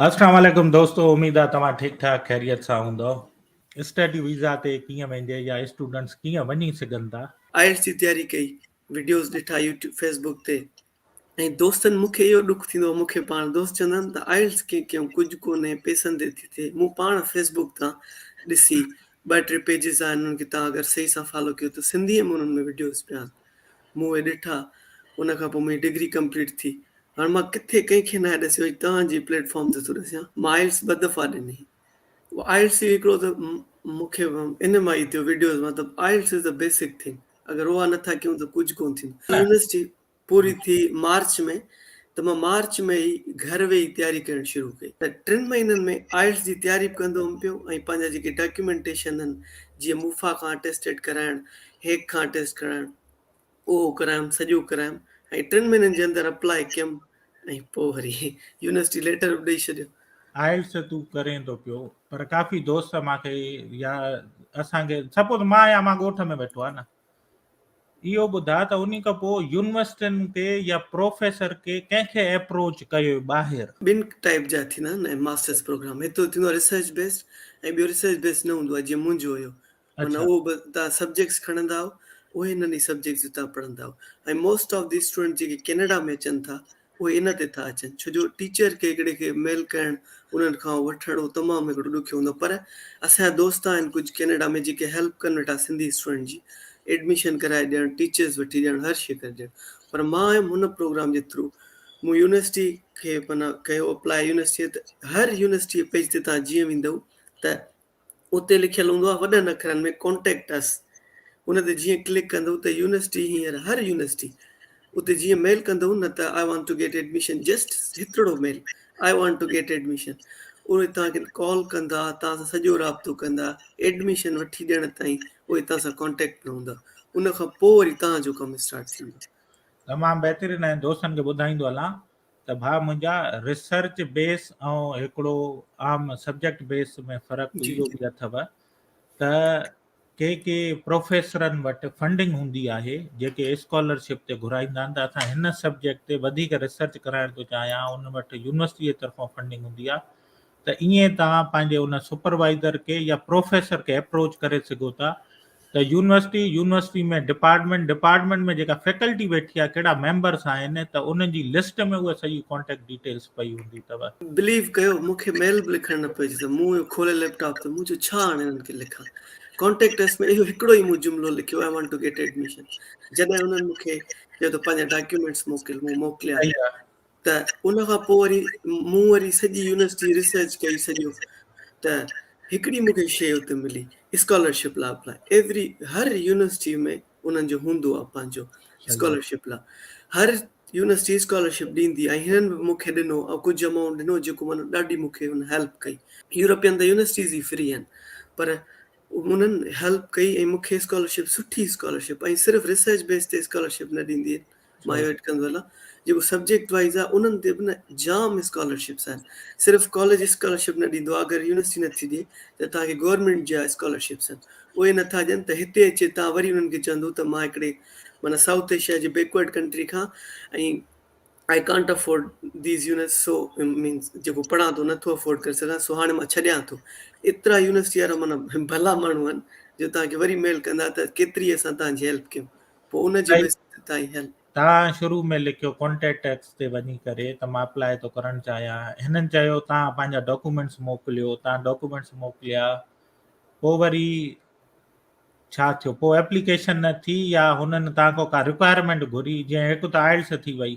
اسلام عليڪم دوستو اميد آ توهان ٺيڪ ٺاڪ خيريت سان هوندؤ اسٽڊي ويزا تي ڪيئن ويندي يا اسٽوڊنٽس ڪيئن وڃي سگهن ٿا. آئلٽس جي تياري ڪئي وڊيوز ڏٺا يوٽيوب فيس بوڪ تي ۽ دوستن مون کي اهو ڏک ٿيندو هو مون کي پاڻ دوست چوندا هن ته آئلٽس ڪيئن ڪيائون ڪجهه ڪونهي پيسن تي ٿي ٿئي مون پاڻ فيس بوڪ تان ڏسي ٻه ٽي پيجز آهن انهن کي توهان اگر صحيح سان فالو ڪيو ته سنڌي ۾ انهن ۾ وڊيوز پيا مون اهي ڏٺا ان کان پوء منهنجي ڊگري ڪمپليٽ ٿي هاڻ مان ڪٿي ڪنهن کي ناهي ڏسيو اڄ توهان جي پليٽ فارم تي ٿو ڏسيان مان آئلس ٻه دفعا ڏني آئلس جو هڪڙو ته مون کي ان مان ئي ٿيو وڊيوز مان ته IELTS is a basic thing اگر اها نه ٿا ڪيون ته ڪجهه ڪون ٿيندو يونيورسٽي پوري ٿي مارچ ۾ ته مان مارچ ۾ ئي گهر ويهي تياري ڪرڻ شروع ڪئي ته ٽن مهينن ۾ آئلس جي تياري به ڪندو هئم پيو ۽ پنهنجا جيڪي ڊاڪيومينٽيشن آهن جيئن موفا کان اٽيسٽيڊ ڪرائڻ هيڪ کان ٽيسٽ ڪرائڻ اهو ڪرايم سڄو ڪرايم ۽ ٽن مهينن جي اندر اپلاء ڪيم ۽ پوء وري يونيورسٽي ليٽر به ڏئي ڇڏيو. آئلس تون ڪرين ٿو پيو پر ڪافي دوست مان کي يا اسان کي سپوز مان يا مان ڳوٺ ۾ ويٺو آ نه اهو ٻڌا ته انهي کان پوء يونيورسٽين کي يا پروفيسر کي ڪنهن کي اپروچ ڪيو ٻاهر ٻن ٽائيپ جا ٿيندا آهن ماسٽرس پروگرام هڪ ته ٿيندو آ ريسرچ بيسڊ ۽ ٻيو ريسرچ بيسڊ نه هوندو آ جيئن منهنجو هيو معنيٰ اهو به تان سبجيڪٽس کڻندا آهو اهي انهن ئي سبجيڪٽس جو تان پڙهندا آهو ۽ موسٽ آف دي اسٽوڊنٽ جيڪي ڪينيڊا ۾ اچن ٿا اهي ان تي ٿا اچن ڇو جو ٽيچر کي هڪڙي کي ميل ڪرڻ انهن کان وٺڻ اهو تمام هڪڙو ڏکيو هوندو پر اسان جا دوست آهن ڪجهه ڪينيڊا ۾ جيڪي هيلپ ڪن ويٺا سنڌي اسٽوڊنٽ جي ايڊميشن ڪرائي ڏيڻ ٽيچرس وٺي ڏيڻ هر شي ڪري ڏيڻ پر مان هيم هن پروگرام جي ٿرو مون يونيورسٽي کي معنيٰ ڪيو اپلاء يونيورسٽي ته هر يونيورسٽي پيج تي تان جيئن ويندو ته اتي لکيل هوندو آهي وڏن اکرن ۾ Contact Us ان تي جيئن ڪلڪ ڪندو ته يونيورسٽي هينئر هر يونيورسٽي اتي جيئن ميل ڪندو نه ته I want to get admission just هڪڙو mail I want to get admission اهي توهان کي ڪال ڪندا توهان سان سڄو رابطو ڪندا ايڊميشن وٺي ڏيڻ تائين اهي توهان سان ڪانٽيڪٽ ۾ هوندا ان کان پوء وري توهان جو ڪم اسٽارٽ ٿيندو تمام بهترين ۽ دوستن کي ٻڌائيندو هلان ته ڀاء منهنجا ريسرچ بيس ۽ هڪڙو عام سبجيڪٽ بيس ۾ فرق اهو به اٿو ته ڪي ڪي پروفيسرن وٽ فنڊنگ هوندي آهي جيڪي اسڪالرشپ تي گهرائيندا آهن ته اسان هن سبجيڪٽ تي وڌيڪ ريسرچ ڪرائڻ ٿو چاهيان ان وٽ يونيورسٽي جي طرفان فنڊنگ هوندي آهي ته ائين توهان پنهنجي ان سپروائيزر کي يا پروفيسر کي اپروچ ڪري سگهو ٿا ته يونيورسٽي، يونيورسٽي ۾ ڊپارٽمينٽ، ڊپارٽمينٽ ۾ جيڪا فيڪلٽي ويٺي آهي ڪهڙا ميمبرس آهن ته انهن جي لسٽ ۾ اها سڄي ڪانٽيڪٽ ڊيٽيلس پئي هوندي اٿو. بليو ڪيو مون کي ميل به لکڻ نه پئي اچي ته مون اهو کولي ليپ ٽاپ ته مون چيو ڇا هاڻي انهن کي لکان ڪانٽيڪٽ اس ۾ اهو هڪڙو ئي مون جملو لکيو I want to get admission جڏهن انهن مون کي چيو ته پنهنجا ڊاڪيومينٽس موڪل مون موڪليا. ته ان کان پوء وري مون وري سڄي يونيورسٽي ريسرچ ڪئي سڄو ته هڪڙي مون کي شيء اتي ملي اسڪالرشپ لا اپلاء ايوري هر يونيورسٽي ۾ انهن جو هوندو آهي پنهنجو اسڪالرشپ لا هر يونيورسٽي اسڪالرشپ ڏيندي ۽ هنن به مون کي ڏنو ۽ ڪجهه امائونٽ ڏنو جيڪو مانو ڏاڍي مون کي هن هيلپ ڪئي يورپين ته يونيورسٽيز ئي فري آهن پر انهن هيلپ ڪئي ۽ مون کي اسڪالرشپ سٺي اسڪالرشپ ۽ صرف ريسرچ بيس تي اسڪالرشپ نه ڏيندي مايو ايڊ ڪندو هلان جيڪو سبجيڪٽ وائز آ انهن تي به نه جام اسڪالرشپس آهن صرف ڪاليج اسڪالرشپ نه ڏيندو آ اگر يونيورسٽي نه ٿي ڏي ته توهان کي گورنمينٽ جا اسڪالرشپس آهن اهي نه ٿا ڏين ته هتي اچي توهان وري انهن کي چوندو ته مان هڪڙي معنيٰ سائوٿ ايشيا جي بيڪورڊ ڪنٽري کان ۽ I can't afford these unis so means جيڪو پڙهان ٿو نٿو افورڊ ڪري سگهان سو هاڻي مان ڇڏيان ٿو ايترا يونيورسٽي وارا مانا ڀلا ماڻهو آهن جو تان کي وري ميل ڪندا ته ڪيتري اسان تان جي هيلپ ڪيون پوء ان جي سائين وسعت تائين هل. توهان شروع ۾ لکيو ڪونٽيٽڪس تي وڃي ڪري ته مان اپلاء ٿو ڪرڻ چاهيان هنن چيو توهان پنهنجا ڊاڪومينٽس موڪليو توهان ڊاڪومينٽس موڪليا پوء وري ڇا ٿيو پوء اپليڪيشن نه ٿي يا هنن توهان کان ڪا رڪوائرمينٽ گهري جيئن هڪ ته آئلس ٿي وئي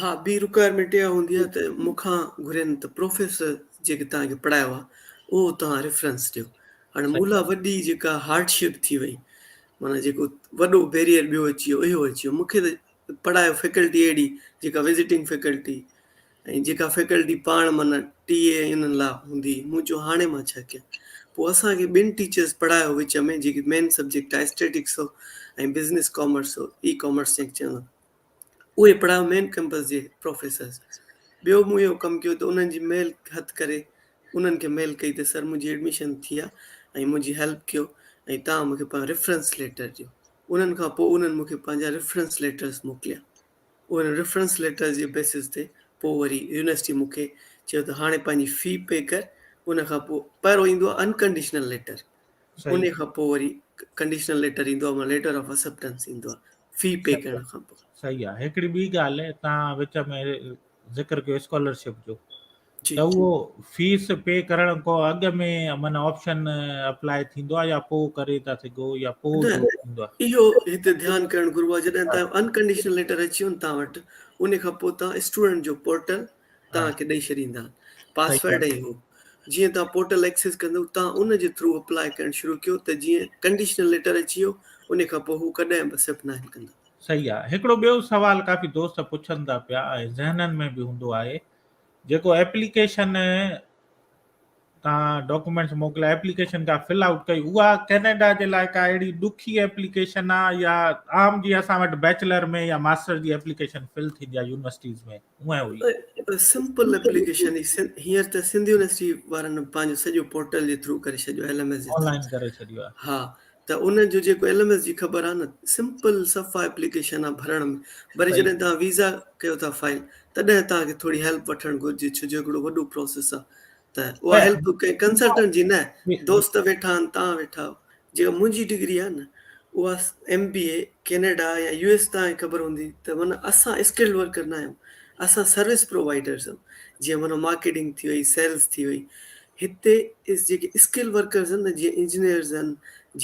ها ٻي رڪوائرمينٽ اها هوندي آهي ته مون کان گهرين ته پروفيسر جيڪي توهان کي پڙهايو آهي اهو توهان ريفرنس ڏيو هاڻي مون لاء وڏي جيڪا هارڊشپ ٿي وئي معنيٰ جيڪو وڏو بيريئر ٻيو اچي ويو اهو اچي ويو مون کي ته پڙهايو فيڪلٽي اهڙي جيڪا وزٽنگ فيڪلٽي ۽ جيڪا فيڪلٽي پاڻ معنيٰ ٽي اي انهن لاء هوندي مون چيو هاڻي مان ڇا ڪيان پوء اسانکي ٻن ٽيچرس پڙهايو وچ ۾ جيڪي مين سبجيڪٽ آهي اسٽيٽڪس هو ۽ بزنس ڪامرس هو اي ڪامرس جنهن کي چوندو اهي پڙهايو مين ڪئمپس جي پروفيسرز ٻيو مون اهو ڪم ڪيو ته انهن جي ميل هٿ ڪري انهن کي ميل ڪئي ته سر منهنجي ايڊميشن ٿي آ ۽ منهنجي هيلپ ڪيو ۽ تان مونکي پنهنجا ريفرنس ليٽر ڏيو انهن کان پوء انهن مونکي پنهنجا ريفرنس ليٽرز موڪليا انهن ريفرنس ليٽرز جي بيسز تي پوء وري يونيورسٽي مونکي چيو ته هاڻي پنهنجي في پي ڪر ان کان پوء پهرو ايندو آ انڪنڊيشنل ليٽر انهي کان پوء وري ڪنڊيشنل ليٽر ايندو آ مان ليٽر آف اسپٽنس ايندو آ في پي ڪرڻ کان پوء صحيح آ هڪڙي ٻي ڳالهه تان وچ ۾ ذڪر ڪيو اسڪالرشپ جو ته اهو فيس پي ڪرڻ کو اڳ ۾ من آپشن اپلاء ٿيندو آ يا پوء ڪري ٿا سگهو يا پوء ٿيندو آ اهو هتي ڌيان ڪرڻ گهربو آ جڏهن ته انڪنڊيشنل ليٽر اچي ويو تان وٽ انهي کان پوء تان اسٽوڊنٽ جو پورٽل توهان کي ڏئي ڇڏيندا پاسورڊ ۽ هو جيئن توهان پورٽل ايڪسيس ڪندو توهان ان جي ٿرو اپلائي ڪرڻ شروع ڪيو ته جيئن ڪنڊيشنل ليٽر اچي ويو ان کان پوء هو ڪڏهن به اسيپٽ ناهن ڪندا صحيح آ هڪڙو ٻيو سوال ڪافي دوست پڇن ٿا پيا ۽ ذهنن ۾ به هوندو آهي جيڪو ايپليڪيشن تان ڊاڪومينٽس موڪليا ايپليڪيشن جا فل آئوٽ ڪئي اها ڪينيڊا جي لاء ڪا اهڙي ڏکي ايپليڪيشن آ يا عام جي اسان وٽ بيچلر ۾ يا ماستر جي ايپليڪيشن فل ٿيندي آ يونيورسٽيز ۾ اهي هئي سمپل ايپليڪيشن هينئر ته سنڌ يونيورسٽي وارن پنهنجو سڄو پورٽل جي ٿرو ڪري ڇڏيو ايل ايم ايس جي ٿرو آن لائن ڪري ڇڏيو آ ها ته ان جو جيڪو ايل ايم ايس جي خبر آهي نه سمپل صفا اپليڪيشن آهي ڀرڻ ۾ وري جڏهن تان ويزا ڪيو ٿا فائل تڏهن تان کي ٿوري هيلپ وٺڻ گهرجي ڇو جو هڪڙو وڏو پروسيس آهي ته اها هيلپ ڪنهن ڪنسلٽنٽ جي نه دوست ويٺا آهن تان ويٺا جيڪا منهنجي ڊگري آهي نه اها ايم بي اي ڪينيڊا يا يو ايس تان خبر هوندي ته من اسان اسڪلڊ ورڪر نه آهيون اسان سروس پرووائيڊرز آهيون جيئن من مارڪيٽنگ ٿي وئي سيلز ٿي وئي هتي جيڪي اسڪل ورڪرز آهن نه جيئن انجنيئرز آهن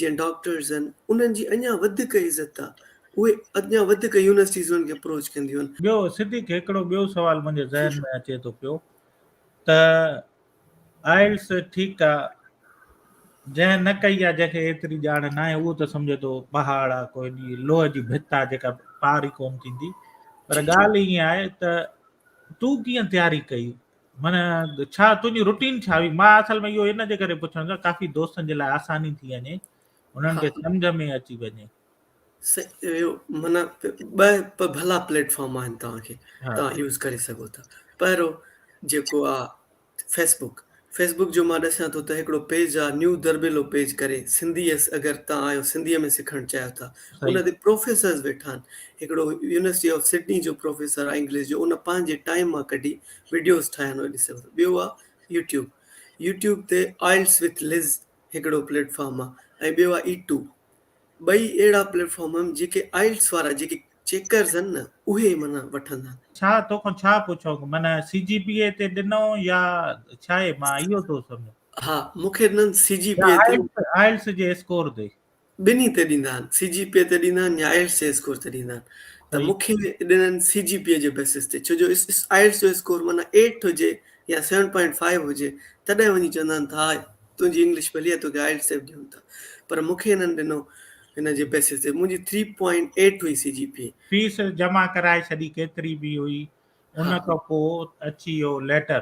جيئن ڊاڪٽرز آهن انهن جي اڃان وڌيڪ عزت آهي اهي اڃان وڌيڪ يونيورسٽيز انهن کي اپروچ ڪنديون آهن. ٻيو صديق هڪڙو ٻيو سوال منهنجي ذهن ۾ اچي ٿو پيو ته آئلس ٺيڪ آ جنهن نه ڪئي آ جنهن کي ايتري ڄاڻ نه آهي اهو ته سمجهي ٿو پهاڙ آ ڪوئي ني لوهه جي ڀت آ جيڪا پار ئي ڪون ٿيندي پر ڳالهه ائين آهي ته تون ڪيئن تياري ڪئي من ڇا تنهنجي روٽين ڇا هئي مان اصل ۾ اهو ان جي ڪري پڇڻ ٿا ڪافي دوستن جي لاء آساني ٿي وڃي انهن کي سمجھ ۾ اچي وڃي من ٻه ڀلا پليٽ فارم آهن توهان کي توهان يوز ڪري سگهو ٿا پهرو جيڪو آهي فيسبوڪ فيسبوڪ جو مان ڏسان ٿو ته هڪڙو پيج آهي نيو دربيلو پيج ڪري سنڌي اگر توهان آهيو سنڌي ۾ سکڻ چاهيو ٿا ان تي پروفيسرز ويٺا آهن هڪڙو يونيورسٽي آف سڊني جو پروفيسر آهي انگلش جو ان پنهنجي ٽائيم مان ڪڍي وڊيوز ٺاهيا آهن ڏسي وٺو ٻيو آهي يوٽيوب يوٽيوب تي آئلس وٿ لز هڪڙو پليٽ فارم آهي ۽ ٻيو آهي اي ٽو ٻئي اهڙا پليٽ فارم آهن جيڪي آئلس وارا جيڪي چيڪرز آهن نه اهي معنيٰ وٺندا آهن ڇا تو کان ڇا پڇاؤ معنيٰ سي جي پي اي تي ڏنو يا ڇا مان اهو ٿو سمجهان ها مونکي ڏنن سي جي پي اي تي آئلس جي اسڪور تي ٻنهي تي ڏيندا آهن، سي جي پي تي ڏيندا آهن يا آئلٽس جي اسڪور تي ڏيندا آهن ته مون کي ڏنل آهن سي جي پي جي بيسس تي ڇو جو آئلٽس جو اسڪور معنيٰ ايٽ هجي يا سيون پوائنٽ فائيو هجي تڏهن وڃي چوندا آهن ته ها تنهنجي انگلش ڀلي آهي توکي آئلٽس تي به ڏيون ٿا پر مون کي هنن ڏنو هن جي بيسس تي منهنجي ٿري پوائنٽ ايٽ هئي سي جي پي. فيس جمع ڪرائي ڇڏي ڪيتري به هئي ان کان پوء اچي ويو ليٽر.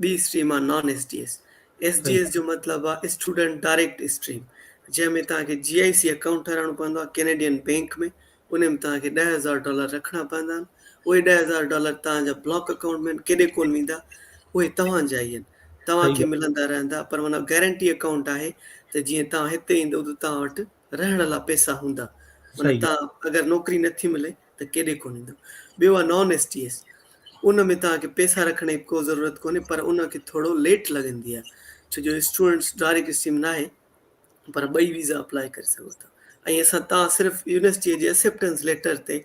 ٻي اسٽريم آ non S D S, S D S جو مطلب آ اسٽوڊنٽ ڊائريڪٽ اسٽريم جنهن ۾ توهان کي جي آئي سي اڪائونٽ ٺهرائڻو پوندو آ ڪينيڊين بينڪ ۾ ان ۾ توهان کي ڏهه هزار ڊالر رکڻا پوندا آهن اهي ڏهه هزار ڊالر توهان جا بلاڪ اڪائونٽ ۾ ڪيڏي ڪون ويندا اهي توهان جا ئي آهن توهان کي ملندا رهندا پر معنيٰ گارنٽي اڪائونٽ آهي ته جيئن توهان هتي ايندو ته توهان وٽ رهڻ لا پئسا هوندا معنيٰ تان اگر نوڪري نه ٿي ملي ته ڪيڏي ڪونه ايندو ٻيو آ نان ايس ٽي ايس ان ۾ تان کي پئسا رکڻ جي ڪو ضرورت ڪونهي پر ان کي ٿورو ليٽ لڳندي آ ڇو جو اسٽوڊنٽس ڊائريڪٽ اسٽريم ناهي پر ٻئي ويزا اپلاء ڪري سگهو ٿا ۽ اسان تان صرف يونيورسٽي جي اسيپٽنس ليٽر تي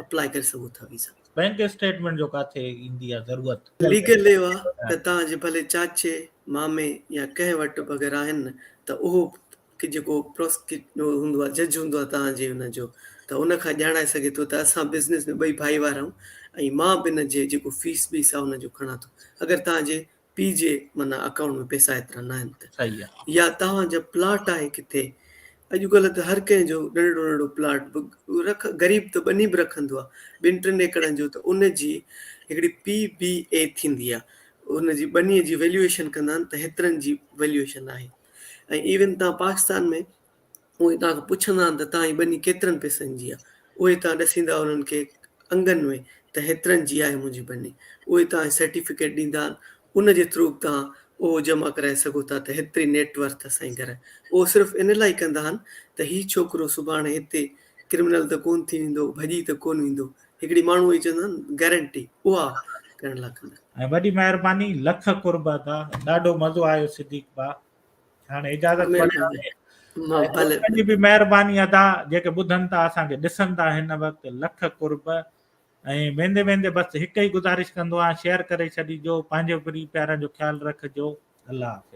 اپلاء ڪري سگهو ٿا ويزا بينڪ اسٽيٽمينٽ جو ڪاٿي ايندي آ ضرورت ليگل ليو آ ته تان جي ڀلي چاچي مامي يا ڪنهن وٽ به اگر آهن ته اهو کي جيڪو پروسڪيٽ هوندو آهي جج هوندو آهي توهان جي ان جو ته ان کان ڄاڻائي سگهي ٿو ته اسان بزنس ۾ ٻئي ڀائيوار آهيون ۽ مان به ان جي جيڪو فيس بي سا ان جو کڻان ٿو اگر توهان جي پي جي معنيٰ اڪائونٽ ۾ پيسا ايترا نه آهن ته صحيح آهي يا توهان جو پلاٽ آهي ڪٿي اڄ ڪلهه ته هر ڪنهن جو ننڍڙو ننڍڙو پلاٽ به رک غريب ته ٻني به رکندو آهي ٻن ٽن ايڪڙن جو ته ان جي هڪڙي پي بي اي ٿيندي آهي ان جي ٻني جي ويليوئيشن ڪندا آهن ته هيترن جي ويليوئيشن آهي ۽ ايون تان پاڪستان ۾ اهي توهان کان پڇندا آهن ته توهان جي ٻني ڪيترن پيسن جي آهي اهي توهان ڏسيندا انهن کي انگن ۾ ته هيترن جي آهي منهنجي ٻني اهي توهان کي سرٽيفڪيٽ ڏيندا آهن ان جي ٿرو به توهان اهو جمع ڪرائي سگهو ٿا ته هيتري نيٽ ورٿ اسان جي گهر اهو صرف ان لاء ڪندا آهن ته هي ڇوڪرو سڀاڻي هتي ڪرمنل ته ڪون ٿي ويندو ڀڄي ته ڪون ويندو هڪڙي ماڻهو اهي چوندا آهن گرنٽي اها ڪرڻ لاء ڪندا ۽ وڏي مهرباني لک قرب ادا ڏاڍو مزو آيو صديق با هاڻي اجازت وٺ به مهرباني ادا جيڪي ٻڌن ٿا اسان کي ڏسن ٿا هن وقت لک قرب ۽ ويندي ويندي بس هڪ ئي گزارش ڪندو آهيان شيئر ڪري ڇڏي جو پنهنجو پري پيارن جو خيال رکجو الله حافظ